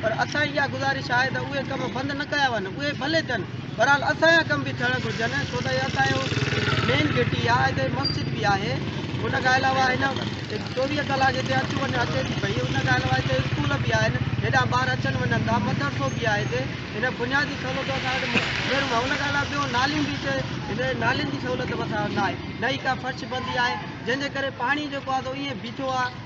پر اسان جي اها گذارش آهي ته اهي ڪم بند نه ڪيا وڃن، اهي ڀلي ٿين، بهرحال اسان جا ڪم به ٿيڻ گهرجن ڇو ته هي اسان جو مين گهٽي آهي، هتي مسجد به آهي، ان کان علاوه هن چوويهه ڪلاڪ هتي اچ وڃ اچي ٿي پئي، ان کان علاوه هتي اسڪول به آهن، هيڏانهن ٻار اچن وڃن ٿا، مدرسو به آهي هتي، هن بنيادي سهولتون اسان وٽ ڳريون آهن، ان کان علاوه ٻيو نالين به هتي هتي نالين جي سهولت به اسان وٽ ناهي، نه ئي ڪا فرش بندي آهي، جنهن جي ڪري پاڻي جيڪو آهي سو ائين بيٺو آهي.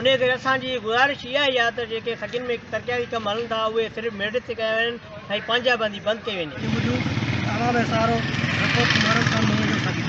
انهيء ڪري اسان جي گذارش اها ئي آهي ته جيڪي سگين ۾ ترقياتي ڪم هلن ٿا اهي صرف ميرٽ تي ڪيا وڃن ۽ پنهنجا بندي بند ڪئي وڃي. جي موجب عوام ۽ سهارو رپورٽ محرم خان مهيجو سگي.